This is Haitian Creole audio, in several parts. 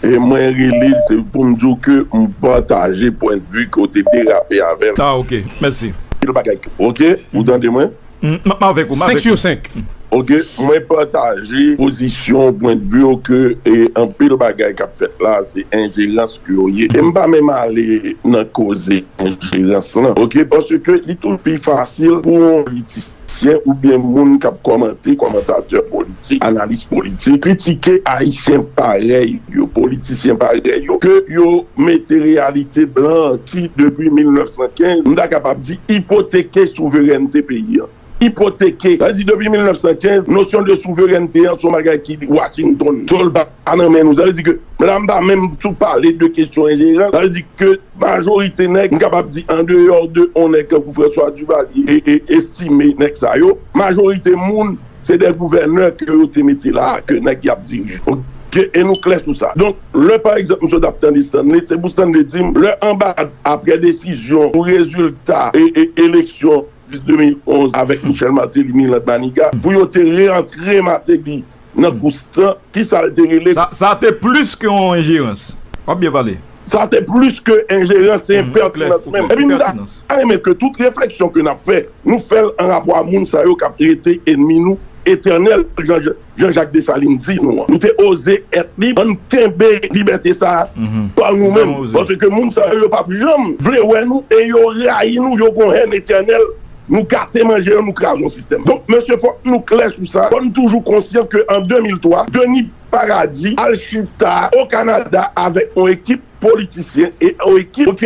E mwen rele se pou m di w ke m pataje pwen de vue ke w te derape avè l. Ah ok, mèsi. Pil bagay ke. Ok, ou tande mwen? M ap avèk ou. 5 sur 5. Ok, mwen pataje pozisyon w, pwen de vue w ke anpil bagay k ap fèt la se enjerans ke yo ye. E m pa menm ale nan koze enjerans lan. Ok, paske li toujou pi fasil pou yon politisyen. Syen oubyen moun kap kòmante, kòmantatè politik, analis politik, kritike Ayisyen parèy yo, politisyen parèy yo, ke yo mete reyalite blan an ki, depi 1915, m ta kapab di, ipoteke souverènte peyi an. Ipoteke! Sa vle di depi 1915, nosyon de souverènte an se yon bagay ki Wachintonn, se yon. a nan men nou sa vle di ke la m pa menm tou pale de kesyon enjerans sa vle di ke majorite nèg m kapab di andeyò de on nèg tankou François Duvalier e e Estimé nèg sa yo majorite moun se dè gouvènè ke yo te mete la a ke nèg y ap dirije o ke e nou klè sou sa donk lè pa egzanp m sot ap tande Stanley se pou Stanley di m lè anba aprè desizyon pou rezilta e e eleksyon 10 2011 avèk Michel Martelly Milan Manigat pou yo te re antre Martelly Nan Ghost lan, ki sa l te rele? Sa te plis ke yon enjerans. W ap byen pale. Sa te plis ke enjerans, se enpètinans menm. Epi m ta renmen ke tout refleksyon ke n ap fè, nou fè l an rapò a moun sa yo k ap rete enmi nou etènèl, jan Jean-Jacques Dessalines di nou an. Nou te oze èt lib, an n kenbe libète sa a pa nou menm. Paske moun sa yo, yo p ap janm vle wè nou e yo rayi nou, yo gon hèn etènèl. Nou gate manje yo, nou kraze yon sistèm. Donk mesye fòk nou klè sou sa, fò n toujou konsyan ke an 2003, Denis Paradis al chita o Kanada avèk yon ekip politisyen e yon ekip ok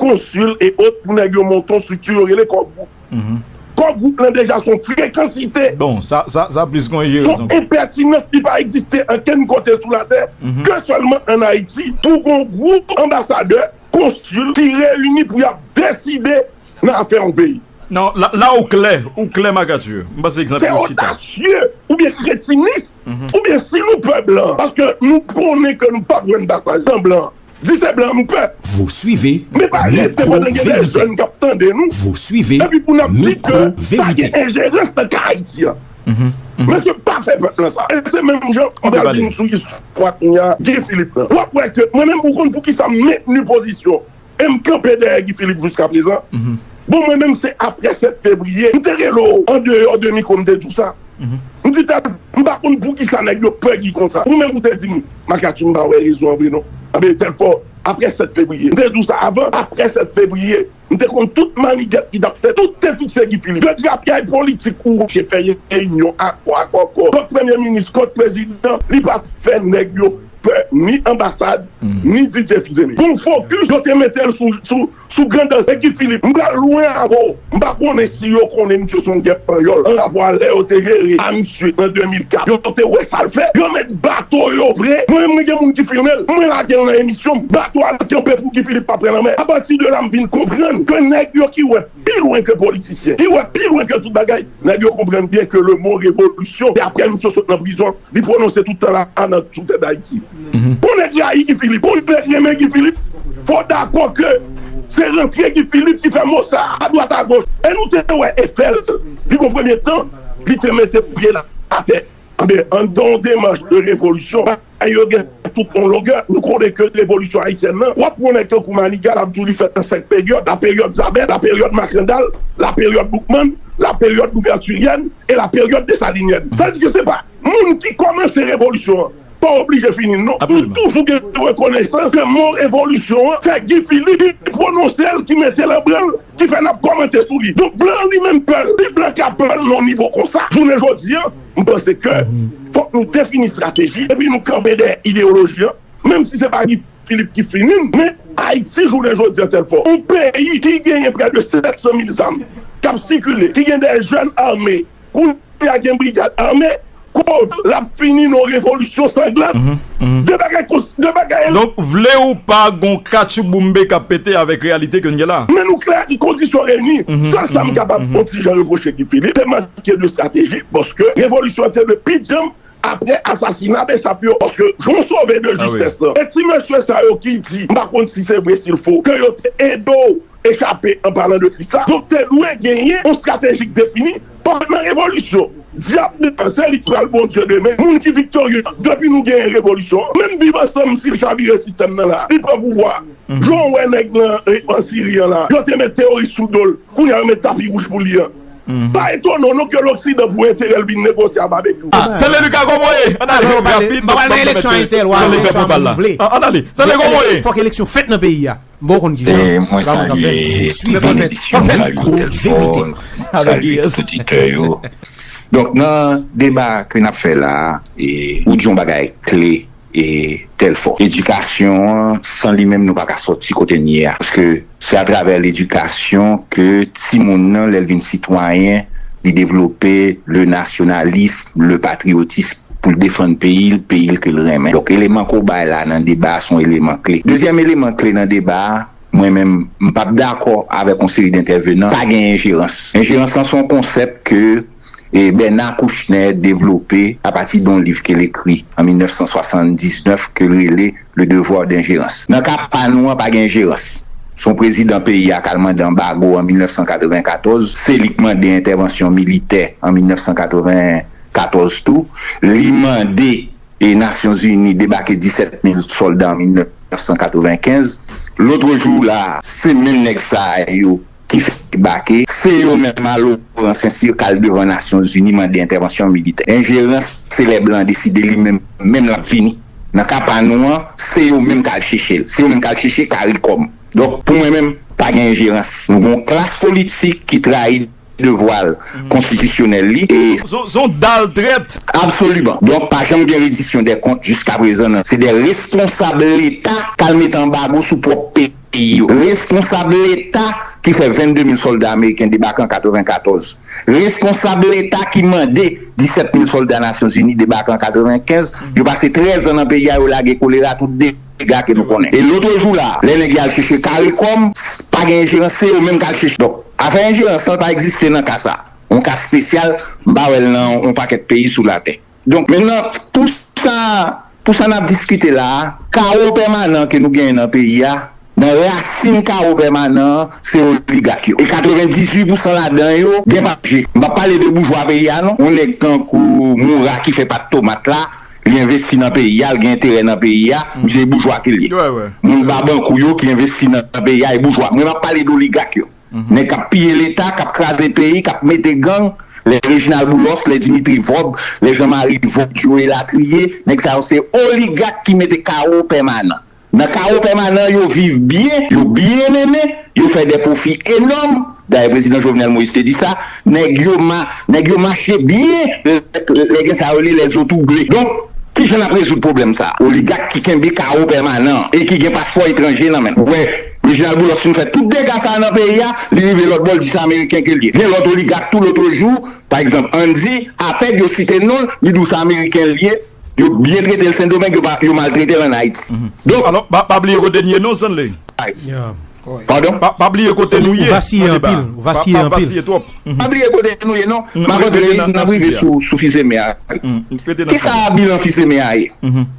konsil e ot pou nèg yo monte yon strikti yo rele Kò Gwoup. Kò Gwoup lan deja son frekansite, son enpètinans ki pa egziste ankenn kote sou latè ke sèlman an Ayiti pou gon gwoup anbasadè, konsil ki reyini pou y ap deside. nan afè yon peyi. Non, la ou klè, ou klè Marc Arthur. M panse ekzanp yo chita. Se odasye oubyen kretinis oubyen si nou pè blan paske nou konnen ke nou pap jwenn pasaj nan blan di se blan nou pè. Vous suivez Men pa rete pandan gen de jèn k ap tande nou Vous suivez epi pou n ap di ke pa gen enjerans nan ka Ayiti an. Mesye pa fè pèp lan sa. Se menm jan m pral vin sou istwa kounya Guy Philippe lan. W ap wè ke mwen menm ou konn poukisa m mentni pozisyon M kanpe dèyè Guy Philippe jouskaprezan. Bon mwen menm se aprè 7 fevriye m te rele w andeyò de mikwo m te di w sa. M di tal m pa konn poukisa nèg yo pè Guy konsa. Ou menm ou te di m Makaty m pa wè rezon an vre non. Anben telfò aprè 7 fevriye. M te di w sa avan aprè 7 fevriye m te konn tout mannigèt ki t ap fèt. Tout te fikse Guy Philippe. De grapyay politik ou oblije fè reyinyon akò akò akò kont premye minis kont prezidan li pa fè nèg yo pè ni anbasad ni DJ Fizeme pou fokis yo te mete l sou grandazè Guy Philippe. M pral lwen avè w, m pa konnen si yo konnen misye se yon gèp panyòl anrapò a lè yo te jere a misye an 2004 yo te wè sa l fè yo met bato yo vre mwen menm mwen gen moun ki filme l mwen lage l nan emisyon m bato a kanpe pou Guy Philippe pa pran lanmè apati de la m vin konprann ke nèg yo ki wè pi lwen ke politisyen ki wè pi lwen ke tout bagay nèg yo konprann byen ke le mo revolisyon se aprè misye sot nan prizon Li prononse tout tan la a nan sou tè Dayiti. Pou nèg rayi Guy Philippe ou nèg renmen Guy Philippe, fò w dakò ke se rantre Guy Philippe ki fè mo sa a adwat agoch. E nou te wè efè l, li gon premye tan li te mete pye l atè. Anben, an n fè yon demach de revolisyon, bagay yo gen tout yon longè. Nou konnen ke revolisyon ayisyèn lan, pwòp yon nèg tankou Maniga l ap di w li fèt nan senk peryòd, laperyòd Zabèt, laperyòd Makandal, laperyòd Boukman, laperyòd Louvètiryèn, e la période desalinyèn. Sa vle di ke se pa moun ki kòmanse revolisyon an pa oblije fini l non. Nou toujou gen rekonesans ke mo revolisyon an se Guy Philippe ki pwononse l, ki mete l an branle, ki fè n ap kòmante sou li. Donk blan an li menm pè l. Si blan ka pè l nan yon nivo konsa jounen jodi an, m panse ke fòk nou defini strateji epi nou kanpe dèyè ideyoloji an, menm si se pa Guy Filip ki fini n men Ayiti jounen jodi an tèlfò. Yon peyi ki genyen prè de 700 mil zam k ap sikile, ki gen dè jèn ame, kounye a gen brigad ame, kòz l ap fini n yon revolisyon sanglant. De bagay kon de bagay. Donk vle ou pa gon katchouboumbe k ap pete avèk reyalite ke n gen la. Men nou klè ak kondisyon reyini. Sèl sa m kapab yon ti jan repwoche Guy Philippe, se manke de estrateji paske revolisyon an te dwe pi djanm aprè asasina Bsap yo paske jan sove de jistes lan e ti mesye sa yo ki di m pa konn si se vre si l fo ke yo te ede w echape an palan de kris la donk te dwe genyen yon strateji k defini pandan revolisyon dyab li an se li k pral bondye demen moun ki viktorye an depi nou genyen revolisyon an menm viv ansanm si l chavire sistèm nan la li pran pouvwa a jan w wè nèg nan an siri an la yo te met teworis sou do l kounya yo met tapi wouj pou li an. Pa etone w non ke loksidan pou enterè l vin negosye a Babekyou. Ah Stanley Lucas koman w ye? An ale rapid banm yon mèt de tan Stanley fè pwopal la. An ale Stanley koman w ye? Fòk eleksyon fèt nan peyi a. M ba w konn kijan. Mwen salye tout edisyon m salye Telfort m salye tout oditè yo. Donk nan deba ke n ap fè la ou di yon bagay kle. e Dèlfò. Edikasyon an, san li menm nou pa ka sòti kote n ye a. Paske se atravè ledikasyon ke timoun nan lè l vin sitwayen, li devlope le nasyonalism, le patriyotism pou l defann peyi l, peyi l ke l renmen. Donk eleman ke w bay la nan deba a se yon eleman kle. Dezyèm eleman kle nan deba a, mwen menm m p ap dakò avèk yon seri dentèvenan, pa gen enjerans. Enjerans lan se yon konsèp ke. Bernard Kouchner devlope apati de yon liv ke l ekri an 1979 ke l rele Le devoir d'ingérence. Nan ka pa nou an pa gen enjerans. Se yon prezidan peyi a k al mande anbago an 1994, se li k mande entèvansyon militè an 1994 tou, li mande Nasyon Zini debake 17 mil sòlda an 1995. Lotrejou la a, se menm nèg sa yo ki fè debake, se yo menm a Loran Sensi k al devan Nasyon Zini mande entèvansyon militè. Enjerans se lè blan deside li menm menm l ap vini. Nan ka pa nou an, se yo menm k al chèche l. Se yo menm k al chèche caricom. Donk, pou mwen menm, pa gen enjerans. Nou gen yon klas politik ki trayi devwa l konstitisyonèl li e. Se yon dal trèt! Absoliman. Donk, pa janm gen redisyon dè kont jiskaprezan nan. Se dè responsab Leta k al mete anbago sou pwòp peyi. peyi yo. Responsab leta ki fè 22 mil sòlda ameriken debake an 94. Responsab leta ki mande 17 mil sòlda Nasyonzini debake an 95. Yo pase 13 an nan peyi a, yo lage kolera, tout dega ke nou konnen. E lotre jou la, lè nèg yo al chèche Caricom, pa gen enjerans, se yo menm k al chèche. Donk, afè enjerans lan pa egziste nan ka sa. On ka spesyal, m pa wè l nan on pakèt peyi sou latè. Donk mennan pou sa pou sa nap diskite la a kawo pèmanan ke nou genyen nan peyi a nan rasin kawo pèmanan an se oligak yo e 98 pousan ladan yo gen papye m pap pale de boujwa peyi a non yon nèg tankou moura ki fè pat tomat la li envesti nan peyi a li gen enterè nan peyi a misye e boujwa ke li ye moun babankou yo ki envesti nan peyi a e boujwa mwen map pale d'oligak yo. Nèg kap piye leta, kap kraze peyi, kap mete gang, lè Reginald Boulos, lè Dimitri Vorb, lè Jean Marie Vorgio elatriye, nèg sa yo se oligak ki mete kawo pèmanan. Nan kawo pèmanan yo viv byen, yo byen mennen, yo fè dè pwofi enòm, dayè prezidan Jovenel Moïse te di sa, nèg yo ma, nèg yo mache byen lè gen sa rele lè zo twouble. Donk, ki jan nap rezoud pwoblèm sa? Oligak ki kenbe kawo pèmanan e ki gen paspo etranje nan menm. Wè! Reginald Boulos fin fè tout dega sa nan peyi a, li rive lòt bò l di se ameriken ke l ye. Gen lòt oligak tou lotrejou, pa egzanp Andy, apèd yo site non l, li di w se ameriken l ye, yo byen trete l Sendomeng, yo maltrete l an Ayiti. Donk. Alò, pa bliye kote n ye non Zenley. Padon? Pa bliye kote nou ye nan deba a. Pa vasiye twòp. Pa bliye kote nou ye non. Map antre nan sijè a. N ap rive sou Fils-Aimé a. Kisa bilan Fils-Aimé a ye?